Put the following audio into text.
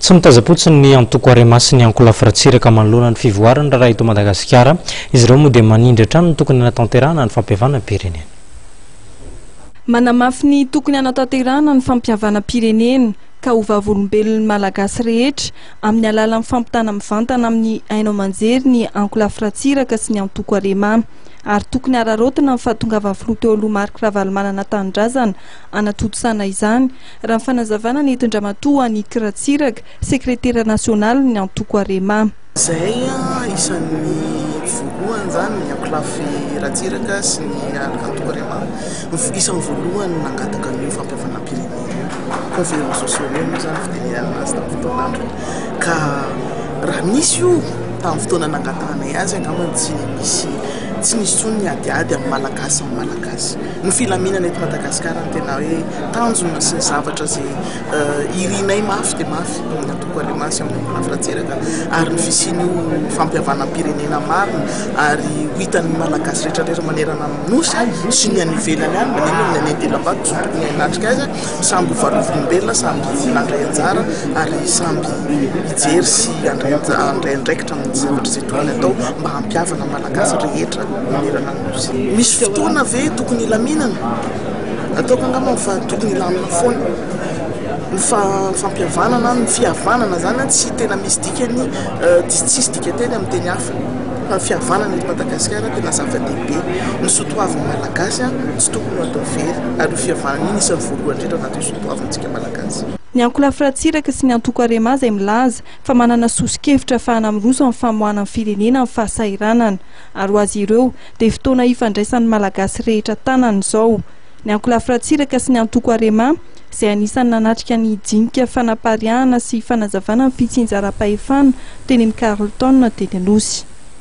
Tsy mitazam-potsiny ny antoko Arema sy ny ankolafy Ratsiraka manoloana ny fivoaran'ny raharaha eto Madagasikara. Izy ireo moa dia manindry hatrany ny tokony hanatanterahana ny fampihavanam-pirenena. Manamafy ny tokony hanatanterahana ny fampihavanam-pirenena ka ho vavolombelon'ny Malagasy rehetra amin'ny alalan'ny fampitana mivantana amin'ny haino aman-jery ny ankolafy Ratsiraka sy ny antoko Arema. Ary tokony hararaotina ny fahatongavany filoha teo aloha Marc Ravalomanana Tanindrazana hanatontosana izany raha ny fanazavana nentin-dRamatoa Annick Ratsiraka, sekretera nasionalin'ny antoko Arema. Izay isan'ny voalohany izany ny ankolafy Ratsiraka sy ny antoko Arema no isan'ny voalohany nangataka an'io fampihavanam-pirenena io. Conférence sociale moa izany no fitenenana azy tamin'ny fotoana androny ka raha nisy io tamin'ny fotoana nangatahanay azy angamba tsy nisy tsy nisy intsony ny adiady amin'ny Malagasy ny Malagasy. Ny filaminana eto Madagasikara no tena hoe tanjona sy ny zavatra izay irinay mafy dia mafy ao amin'ny antoko Alema sy ao amin'ny Olaf Ratsiraka ary ny fisian'io fampihavanam-pirenena marina ary ho hitan'ny Malagasy rehetrarehetra manerana ny Nosy sy ny any ivelany any na inona na inona dilam-bato izay tokony hanatrika azy samy ho varovolom-belona samy handray anjara ary samy hijery sy handray andraikitra amin'ny zavatra izay tokony hatao mba hampihavana ny Malagasy rehetra manerana ny Nosy. Misy fotoana ve tokony hilaminana? Ataoko angamba fa tokony hilamina foana. Ny fifampihavanana, ny fihavanana izany an, tsy tena misy dikany, tsisy dikan-teny amin'ny teny hafa, fa ny fihavanana eto Madagasikara tena zava-dehibe. Ny soatoavin'ny Malagasy an, tsy tokony ho atao very, ary io fihavanana io no isan'ny voalohany indrindra ao anatin'ny soatoavintsika Malagasy. Ny ankolafy Ratsiraka sy ny antoko Arema izay milaza fa manana soso-kevitra ahafahana miroso amin'ny famoahana ny firenena amin'ny fahasahiranana. ary ho azy ireo dia fotoana hifandraisan'ny Malagasy rehetra tanana izao ny ankolafy Ratsiraka sy ny antoko Arema izay anisan'ny nanatrika ny hijinika fanapariahana sy fanazavana ny fitsinjaram-pahefana teny amin'ny Carlton teny Anosy.